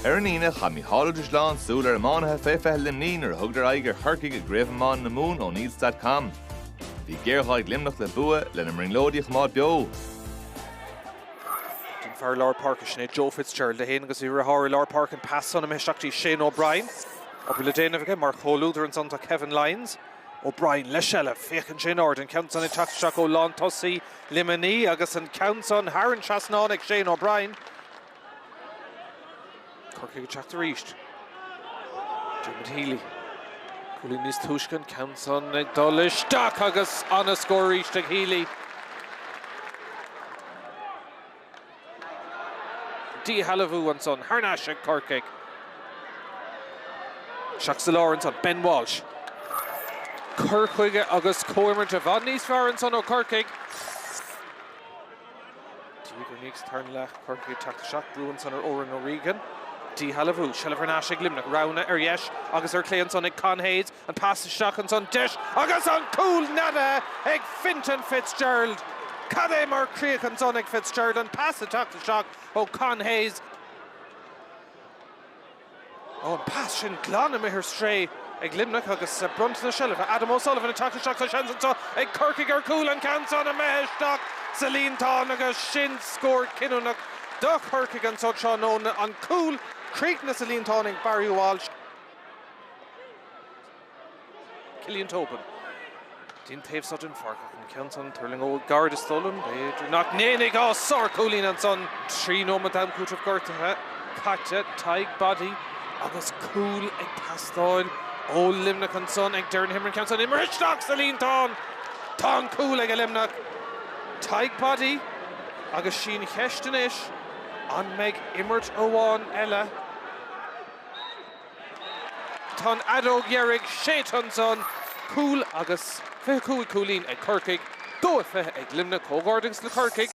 Ar an Aoine, chaith Mícheál Ó Drisleáin súil ar iománaithe fé fiche Luimní nuair a thugadar aghaidh ar Chorcaigh i gCraobh Iomána na Mumhan O'Neills.com. Bhí géarghá ag Luimneach le bua, lena mbrionglóidí a choimeád beo. Don fhear lár páirce, sin é Joe Fitzgerald a théann agus é ag rith thar lár páirce an pas san imithe isteach dtí Shane O'Brien. Obair le déanamh aige mar chomhluadar ansan tá Kevin Lyons. O'Brien le seilbh, féachann sé in airde an ceann san ag teacht isteach ó lántosaí Luimní agus an ceann san thar an trasnán ag Shane O'Brien. Corcaigh ag teacht aríst. Diarmuid Healy. Cúlín níos túisce an ceann san ag dul isteach agus ana-scór aríst ag Healy. díshealbhú ansan thar n-ais ag Corcaigh. Isteach sa lár ansan, Ben Walsh. Cur chuige agus comhimirt i bhfad níos fearr ansan ó Chorcaigh. Tír an Fhéich sa tarna leath, Corcaigh ag teacht isteach, brú ansan ar Oran O'Regan. Díshealbhú, seilbh thar n-ais ag Luimneach. Roghanna ar dheis agus ar chlé ansan ag Con Hayes. An pas isteach ansan, deis agus an cúl neadaithe ag Fintan Fitzgerald. Cad é mar chríoch ansan ag Fitzgerald, an pas ag teacht isteach ó Con Hayes. Ó, an pas sin glan imithe ar strae ag Luimneach agus bronnta na seilbhe. Adam O'Sullivan ag teacht isteach, tá seans anso ag Corcaigh ar chúl. An ceann san imithe isteach sa líontán agus sin scór cinniúnach do Chorcaigh anso tráthnóna. An cúl críochnaithe sa líontán ag Barry Walsh. Cillian Tobin. Den taobh so den pháirc ach an ceann san tuirlingeoidh gairid is dóigh liom, b'fhéidir nach ndéanfaidh á sárchúilín ansan. Trí nóimeat am cúitimh gortuithe caite, Tadhg Boddy agus cúl ag teastáil ó Luimneach ansan ag deireadh na himeartha. An ceann san imeartha isteach sa líontán! Tá an cúl aige Luimneach, Tadhg Boddy, agus sí an cheist anois an mbeidh imirt amháin eile, Tá an fheadóg dheiridh séidte ansan, cúl agus fiche cúig cúilín ag Corcaigh, dó a fiche ag Luimneach, comhghairdeas le Corcaigh.